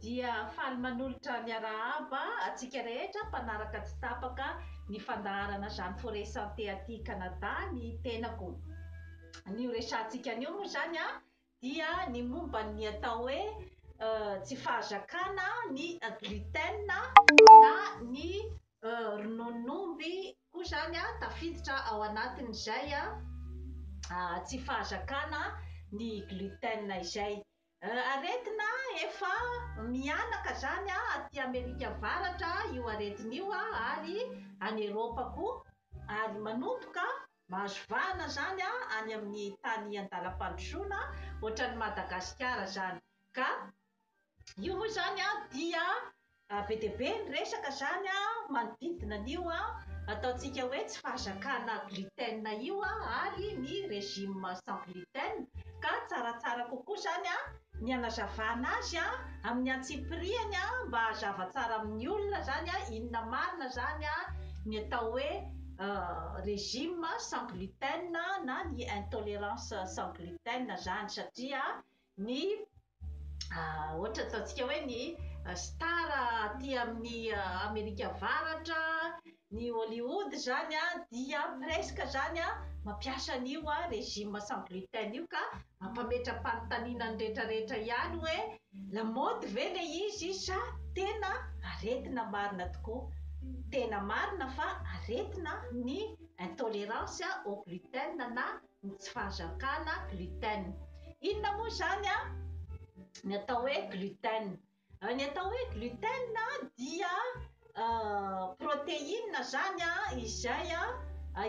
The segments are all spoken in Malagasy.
Dia faly manolotra ny arahaba antsika rehetra mpanaraka tsy tapaka ny fandaharana Jeanne Forest Santé aty Canada ny tenako. Ny ho resahantsika anio moa izany dia ny momba ny atao hoe tsy fahazakana ny gluten na ny rononon'omby koa izany tafiditra ao anatin'izay tsy fahazakana ny gluten izay. Aretina efa mihanaka zany aty Amerika avaratra io aretina io ary any Eropa koa ary manomboka mahazo vahana zany any amin'ny tany andalam-pandrosoana ohatran'ny Madagasikara zany ka io moa zany dia Be dia be ny resaka izany manodidina an'io ataontsika hoe tsy fahazakana gluten io ary ny régime sans gluten ka tsaratsara kokoa izany ny hanazavana azy amin'ny antsipiriany mba hazava tsara amin'ny olona izany inona marina izany ny atao hoe régime sans gluten na ny intolérance sans gluten izany satria ny ohatra ataontsika hoe ny star aty amin'ny Amerika Avaratra, ny Hollywood izany dia presque izany mampiasa an'io régime sans gluten io ka mampametra-panontaniana ny rehetrarehetra ihany hoe lamaody ve ilay izy sa tena aretina marina tokoa? Tena marina fa aretina ny intolérance au gluten na ny tsy fahazakana gluten. Inona moa izany an ny atao hoe gluten? Ny atao hoe gluten dia protéine izany izay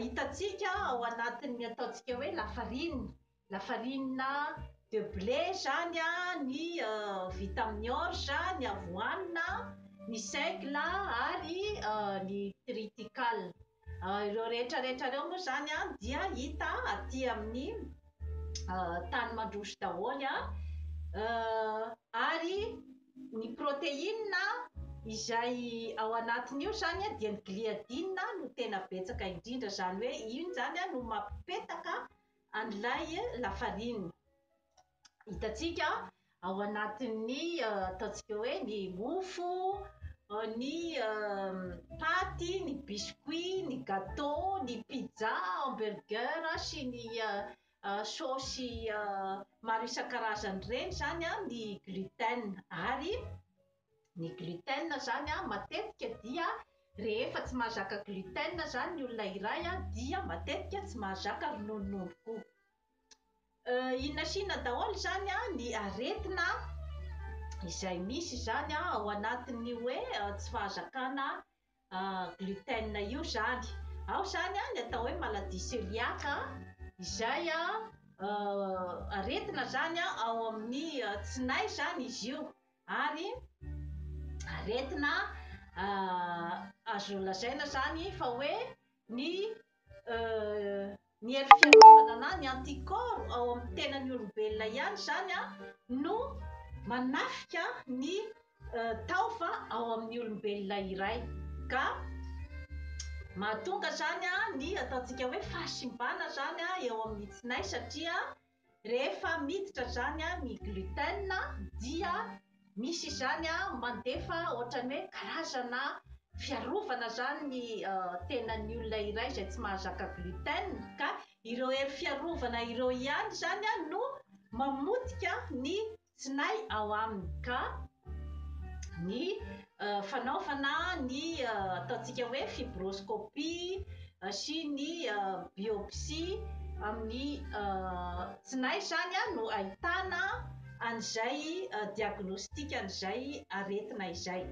hitantsika ao anatin'ny ataontsika hoe lafarinina, lafarinina de blé izany ny vita amin'ny orge, ny avoanina, ny seigle ary ny triticale. Ireo rehetra rehetra ireo moa izany an dia hita aty amin'ny tany mandroso daholo an, ary ny protéine izay ao anatin'io izany an dia ny gliadine no tena betsaka indrindra izany hoe iny izany an no mampipetaka an'ilay lafarinina. hitantsika ao anatin'ny ataontsika hoe ny mofo, ny paty, ny biscuit, ny gateau, ny pizza, hamburger sy ny saosy maro isan-karazany ireny izany ny gluten. Ary ny gluten izany matetika dia rehefa tsy mahazaka gluten izany ny olona iray dia matetika tsy mahazaka rononononoko. Inona sy inona daholo izany ny aretina izay misy izany ao anatin'ny hoe tsy fahazakana gluten io izany. Ao izany ny atao hoe maladie cœliaque izay aretina izany ao amin'ny tsinay izany izy io ary aretina azo lazaina izany fa hoe ny Ny hery fiarovana na ny anticorps ao amin'ny tenan'ny olombelona ihany izany no manafika ny taova ao amin'ny olombelona iray ka mahatonga izany ny ataontsika hoe fahasimbana izany eo amin'ny tsinay satria Rehefa miditra izany ny gluten dia misy izany mandefa ohatran'ny hoe karazana fiarovana izany ny tenan'ny olona iray izay tsy mahazaka gluten ka ireo hery fiarovana ireo ihany izany no mamotika ny tsinay ao aminy ka ny fanaovana ny ataontsika hoe fibroscopie sy ny biopsie amin'ny tsinay izany no ahitana an'izay diagnostic an'izay aretina izay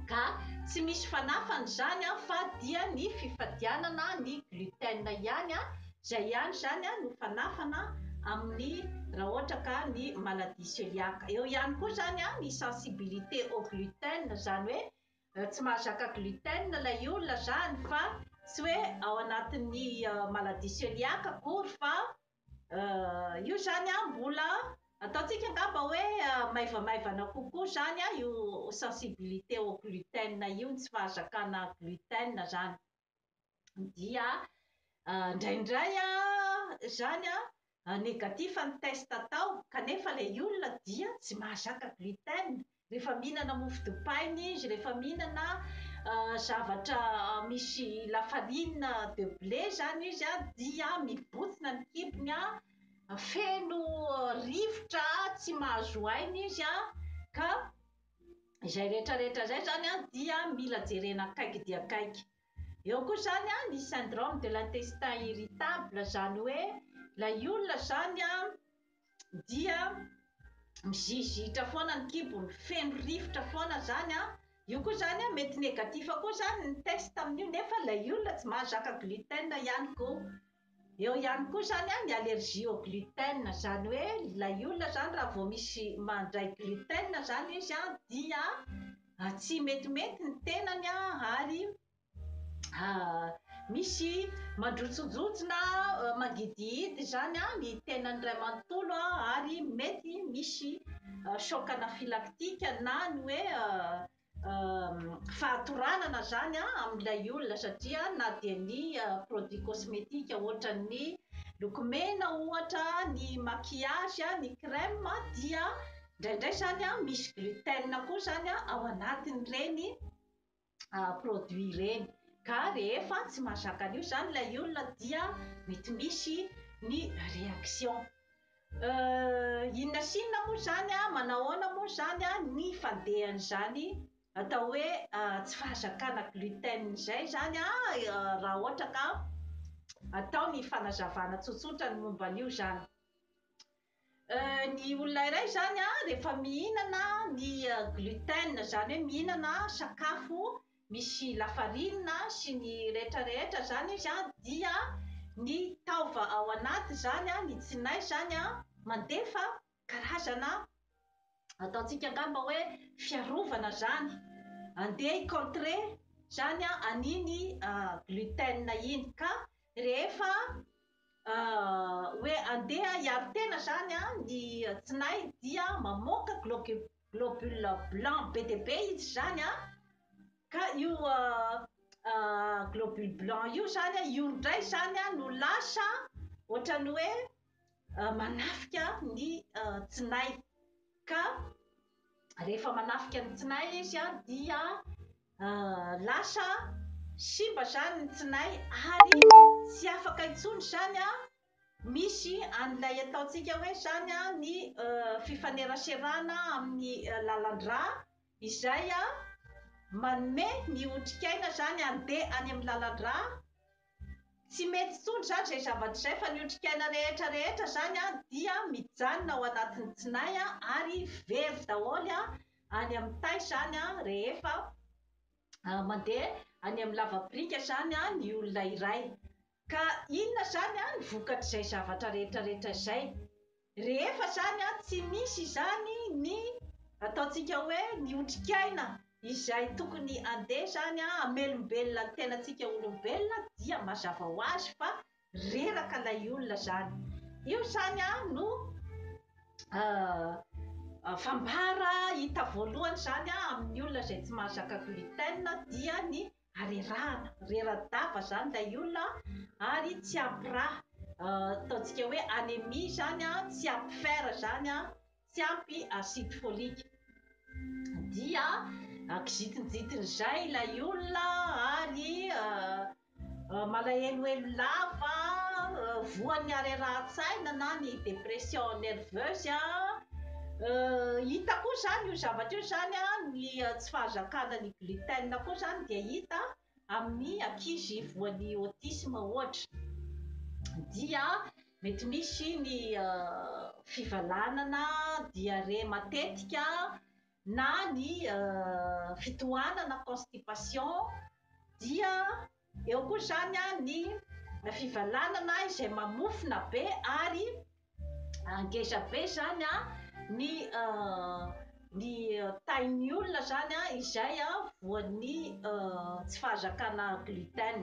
ka tsy misy fanafany izany fa dia ny fifadianana ny gluten ihany Izay ihany izany no fanafana amin'ny raha ohatra ka ny maladie cœliaque. Eo ihany koa izany ny sensibilité au gluten, izany hoe tsy mahazaka gluten ilay olona izany fa tsy hoe ao anatin'ny maladie cœliaque akory fa io izany mbola ataontsika angamba hoe maivamaivana kokoa izany io sensibilité au gluten io, ny tsy fahazakana gluten izany. dia indraindray izany negatif ny test atao kanefa ilay olona dia tsy mahazaka gluten rehefa mihinana mofo dipaina izy, rehefa mihinana zavatra misy la farine de blé izany izy dia mibontsina ny kibony an, feno rivotra tsy mahazo aina izy an, ka Izay rehetra rehetra izay izany an dia mila jerena akaiky dia akaiky. Eo koa izany an ny syndrome de l'intestin irritable izany hoe ilay olona izany an dia mizizitra foana ny kibony, feno rivotra foana izany an, io koa izany an mety negatif koa izany ny test amin'io nefa ilay olona tsy mahazaka gluten ihany koa. Eo ihany koa izany an, ny allergie au gluten, izany hoe ilay olona izany raha vao misy mandray gluten izany izy an, dia tsy metimety ny tenany an, ary misy mandrotsondrotsona, mangidihidy izany an, ny tenany iray manontolo an, ary mety misy choc anaphylactique na ny hoe fahatoranana zany a amin'ilay olona satria na dia ny produit cosmétique ohatran'ny lokomena ohatra ny maquillage a ny crème dia indraindray zany a misy gluten koa zany a ao anatin'ireny produit ireny ka rehefa tsy mahazaka an'io zany ilay olona dia mety misy ny réaction Euh inona sy inona moa izany a, manahoana moa izany a ny fandehan'izany atao hoe tsy fahazakana gluten izay izany a, raha ohatra ka atao ny fanazavana tsotsotra ny momba an'io izany. Euh ny olona iray izany a rehefa mihinana ny gluten izany hoe mihinana sakafo misy lafarinina sy ny rehetra rehetra zany izy an, dia ny taova ao anaty zany an, ny tsinay zany an, mandefa karazana ataontsika angamba hoe fiarovana zany andeha hi contrer zany an an'iny gluten iny ka rehefa hoe andeha hiaro tena zany an ny tsinay dia mamoaka globules. Globule blanc be dia be izy izany an! Ka io globule blanc io izany an, io indray izany an no lasa ohatran'ny hoe manafika ny tsinay. Ka rehefa manafika ny tsinay izy an, dia lasa simba izany ny tsinay ary tsy afaka intsony izany an! Misy an'ilay ataontsika hoe izany ny fifaneraserana amin'ny lalan-drà izay manome ny otrikaina izany handeha any amin'ny lalan-drà. Tsy mety intsony izany izay zavatra izay fa ny otrikaina rehetra rehetra izany dia mijanona ao anatin'ny tsinay ary very daholo any amin'ny tay izany rehefa mandeha any amin'ny lava-piringa izany ny olona iray. Ka inona izany an ny vokatr'izay zavatra rehetra rehetra izay? Rehefa izany an tsy misy izany ny ataontsika hoe ny otrikaina izay tokony handeha izany an hamelombelona ny tenantsika olombelona dia mazava ho azy fa reraka ilay olona izany. Io izany an no fambara hita voalohany izany an amin'ny olona izay tsy mahazaka gluten dia ny arerahana, rera-dava izany ilay olona ary tsy ampy rà, ataontsika hoe anémie izany, tsy ampy fer izany, tsy ampy acide folique. Dia kizintinjitin'izay ilay olona ary malahelohelo lava, voan'ny harerahan-tsaina na ny dépression nerveuse. Hita koa izany io zavatra io izany ny tsy fahazakana ny. Gluten koa izany dia hita amin'ny ankizy voan'ny autisme ohatra dia mety misy ny fivalanana, diarrhée matetika na ny fitohanana, constipation, dia. Eo koa izany ny fivalanana izay mamofona be ary ngeza be izany ny ny tahin'ny olona izany izay voan'ny tsy fahazakana gluten.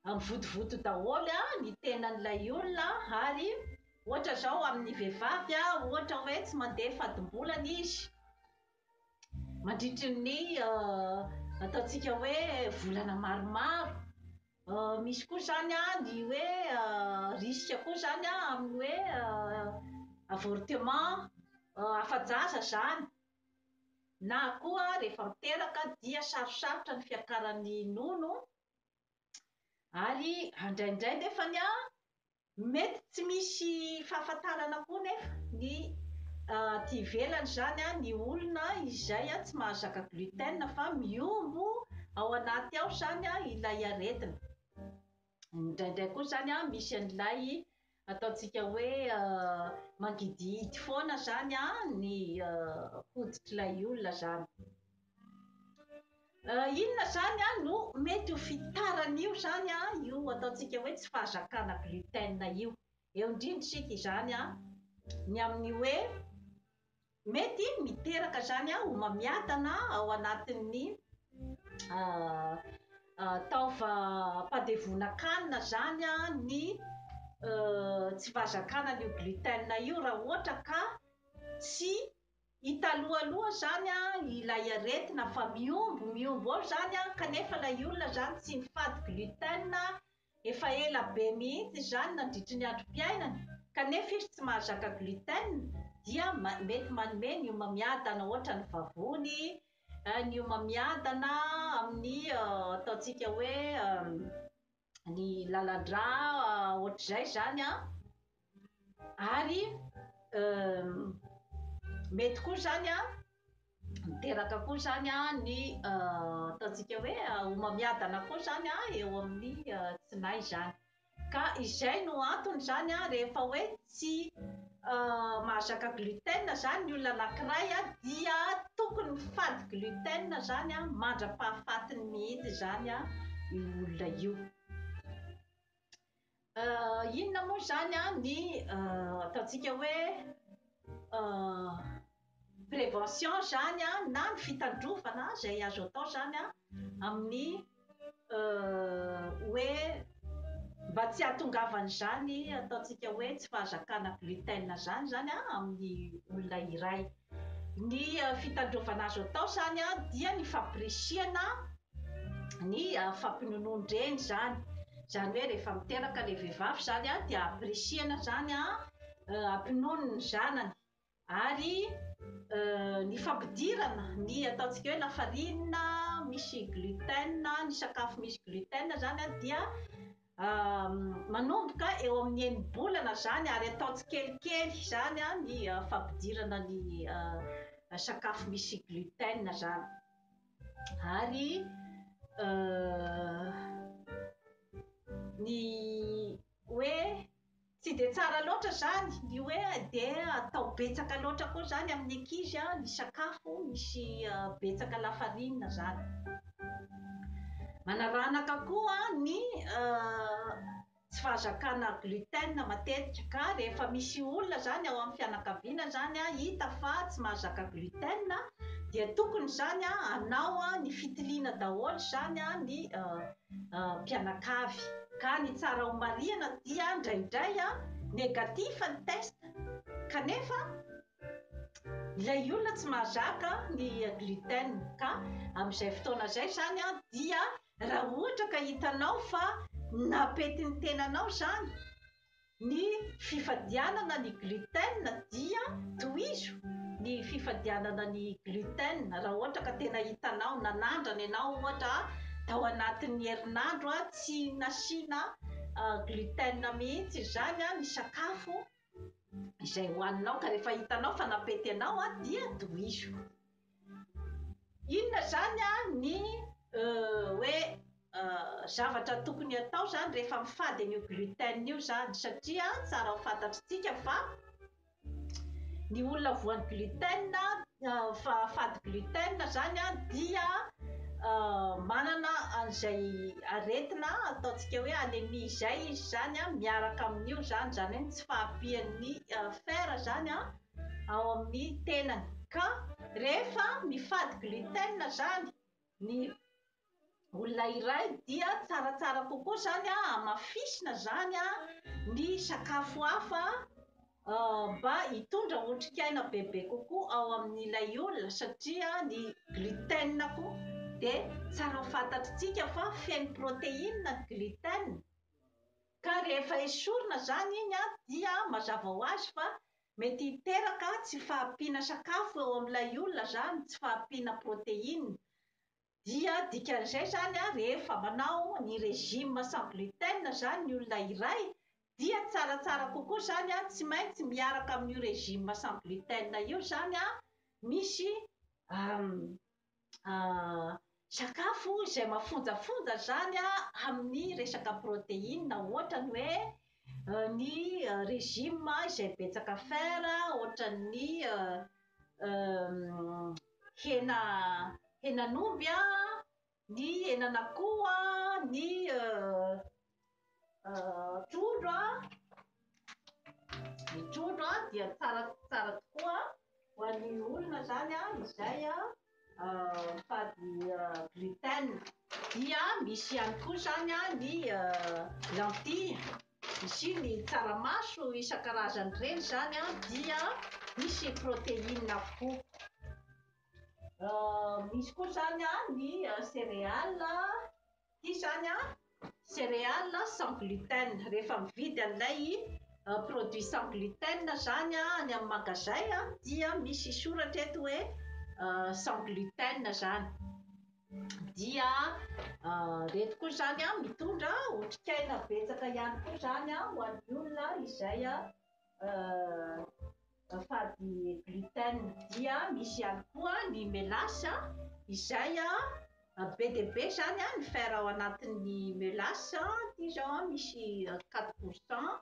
Mivotovoto daholo ny tenan'ilay olona ary ohatra izao amin'ny vehivavy ohatra hoe tsy mandeha fadimbolana izy Mandritry ny ataontsika hoe volana maromaro. Misy koa izany ny hoe risque koa izany amin'ny hoe avortement afa-jaza izany na koa rehefa miteraka dia sarosarotra ny fiakaran'ny nono ary indraindray nefany an Mety tsy misy fahafantarana koa nefa ny aty ivelany izany ny olona izay tsy mahazaka gluten fa mihombo ao anaty ao izany ilay aretina. Indraindray koa izany misy an'ilay ataontsika hoe mangidihidy foana izany ny hoditr'ilay olona izany. Inona izany no mety ho fitaran'io izany io ataontsika hoe tsy fahazakana gluten io? Eo indrindra isika izany ny amin'ny hoe mety miteraka izany homamiadana ao anatin'ny taovam-pandevonan-kanina izany ny tsy fahazakana an'io gluten io raha ohatra ka tsy Italoha aloha zany an ilay aretina fa mihombo mihombo eo zany an kanefa ilay olona zany tsy mifady gluten efa ela be mihitsy izany nandritry ny androm-piainany kanefa izy tsy mahazaka gluten dia mety manome ny homamiadana ohatra ny vavony ny homamiadana amin'ny ataontsika hoe ny lalan-drà ohatr'izay zany an, ary mety koa zany an miteraka koa zany an ny ataontsika hoe homamiadana koa zany an eo amin'ny tsinay zany, ka izay no antony zany an rehefa hoe tsy mahazaka gluten izany ny olona anankiray dia tokony mifady gluten izany an mandra-pahafatiny mihitsy izany an io olona io inona moa izany an ny ataontsika hoe prévention izany an, na ny fitandrovana izay azo atao izany an, amin'ny hoe mba tsy hahatongavan'izany ataontsika hoe tsy fahazakana gluten izany izany an amin'ny olona iray. Ny fitandrovana azo atao izany an dia ny fampirisihana ny fampinonoan-dreny izany, izany hoe rehefa miteraka ilay vehivavy izany an dia ampirisihana izany an hampinono ny zanany ary ny fampidirana ny ataontsika hoe lafarinina misy gluten, ny sakafo misy gluten izany dia manomboka eo amin'ny enim-bolana izany ary atao tsikelikely izany ny fampidirana ny sakafo misy gluten izany ary ny hoe Tsy dia tsara loatra izany ny hoe dia atao betsaka loatra koa izany amin'ny ankizy ny sakafo misy betsaka lafarinina izany. Manaranaka koa ny tsy fahazakana gluten matetika ka rehefa misy olona izany ao amin'ny fianakaviana izany hita fa tsy mahazaka gluten dia tokony izany hanao ny fitiliana daholo izany ny mpianakavy. Ka ny tsara ao marihana dia ndraindray negatif ny test kanefa ilay olona tsy mahazaka ny gluten ka amin'izay fotoana izay izany dia raha ohatra ka hitanao fa napety ny tenanao izany Ny fifadianana ny gluten dia tohizo ny fifadianana ny gluten raha ohatra ka tena hitanao na nandrana ianao ohatra tao anatin'ny herinandro tsy nasiana gluten mihitsy izany ny sakafo izay hohaninao ka rehefa hitanao fa nampety anao dia tohizo. Inona zany ny hoe zavatra tokony atao zany rehefa mifady an'io gluten io zany satria tsara ho fantatritsika fa ny olona voan'ny gluten fa fady gluten zany dia manana an'izay aretina ataontsika hoe anemie izay izy zany miaraka amin'io zany, zany hoe ny tsy fahampian'ny fer zany an. ao amin'ny tenany. Ka rehefa mifady gluten izany ny olona iray dia tsaratsara kokoa izany hamafisina izany ny sakafo hafa mba hitondra otrikaina bebe kokoa ao amin'ilay olona satria ny gluten koa dia tsara fantatritsika fa feno protéine ny gluten ka rehefa esorina izany iny dia mazava ho azy fa Mety hiteraka tsy fahampiana sakafo eo amin'ilay olona izany, tsy fahampiana protéine. Dia dikan'izay izany an, rehefa manao ny régime sans gluten izany ny olona iray, dia tsaratsara kokoa izany an, tsy maintsy miaraka amin'io régime sans gluten io izany an, misy sakafo izay mafonjafonja izany amin'ny resaka protéine ohatrany hoe ny régime izay betsaka fer ohatran'ny hena henan'omby a, ny henan'akoho a, ny trondro ny trondro dia tsara tsara tokoa ho an'ny olona izany izay mitady gluten dia misy ihany koa izany ny lentilles sy ny tsaramaso isan-karazany ireny izany dia misy protéines avokoa misy koa izany ny céréales Ity izany an, céréale sans gluten. Rehefa mividy an'ilay produit sans gluten izany any amin'ny magazay dia misy soratra eto hoe sans gluten izany. Dia ireto koa izany an, mitondra otrikaina betsaka ihany koa izany ho an'ny olona izay Afady gluten dia misy ihany koa ny melasse izay be dia be izany ny fer ao anatin'ny melasse, ity izao misy quatre pour cent,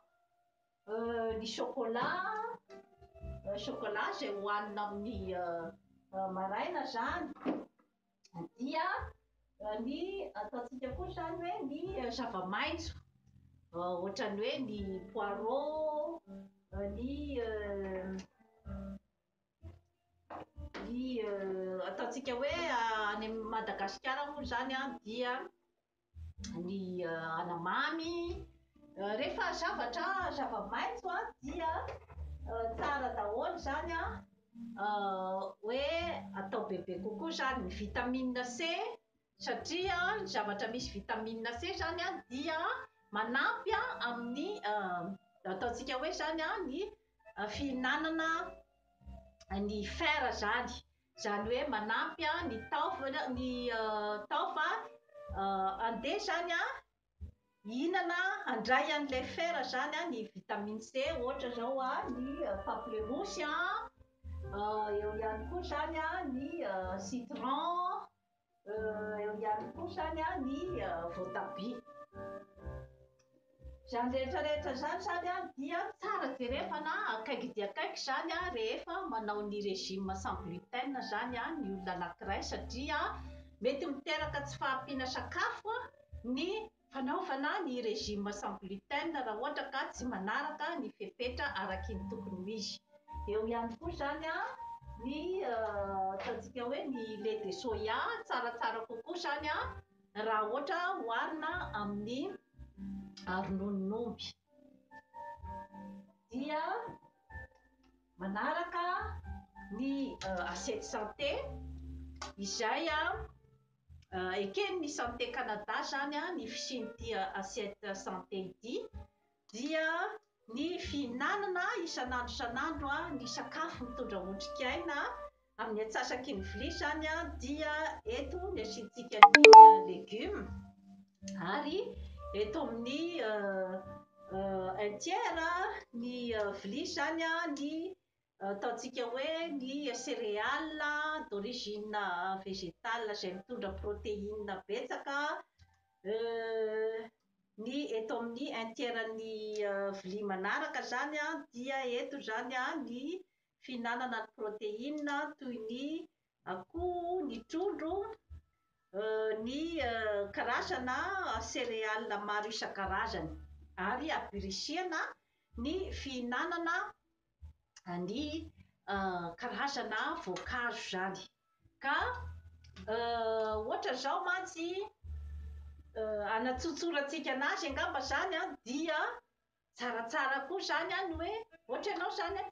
ny sôkôla, sôkôla izay hohanina amin'ny maraina izany. dia ny ataontsika koa izany hoe ny zava-maitso ohatran'ny hoe ny poireau, ny ny ataontsika hoe any Madagasikara moa izany dia ny anamamy, rehefa zavatra zava-maitso an dia tsara daholo izany an hoe atao bebe kokoa izany, ny vitamine C satria ny zavatra misy vitamine C izany an dia manampy an amin'ny ataontsika hoe izany an ny fihinanana ny fer izany. Izany hoe manampy ny taova ny taova handeha izany hihinana handray an'ilay fer izany ny vitamine C ohatra izao ny pamplemousse, eo ihany koa izany ny citron. eo ihany koa zany a ny voatabia. Izany rehetra rehetra izany zany a dia tsara jerevana akaiky dia akaiky izany a rehefa manao ny régime sans gluten izany a ny olona anankiray satria mety miteraka tsy fahampiana sakafo ny Fanaovana ny régime sans gluten raha ohatra ka tsy manaraka ny fepetra araky ny tokony ho izy. Eo ihany koa izany ny ataontsika hoe ny lait de soya, tsaratsara kokoa izany raha ohatra oharina amin'ny rononon'omby. Dia manaraka ny assiette santé izay. Eken'ny Santé Canada izany ny fisian'ity assiette santé ity dia ny fihinanana isan'andro isan'andro ny sakafo mitondra otrikaina, amin'ny antsasaky ny vilia izany dia eto ny asiantsika ny legioma ary eto amin'ny un tiers ny vilia izany ny Ataontsika hoe ny céréale d'origine végétale izay mitondra protéine betsaka ny eto amin'ny un tiers ny vilia manaraka izany an dia eto izany an ny fihinanana ny protéine toy ny akoho, ny trondro, ny karazana céréale maro isan-karazany ary ampirisihana ny fihinanana ny karazana voankazo izany. Ka ohatra izao mantsy, hanatsotsorantsika an'azy angamba izany an, dia tsaratsara koa izany an, ny hoe ohatra ianao izany an,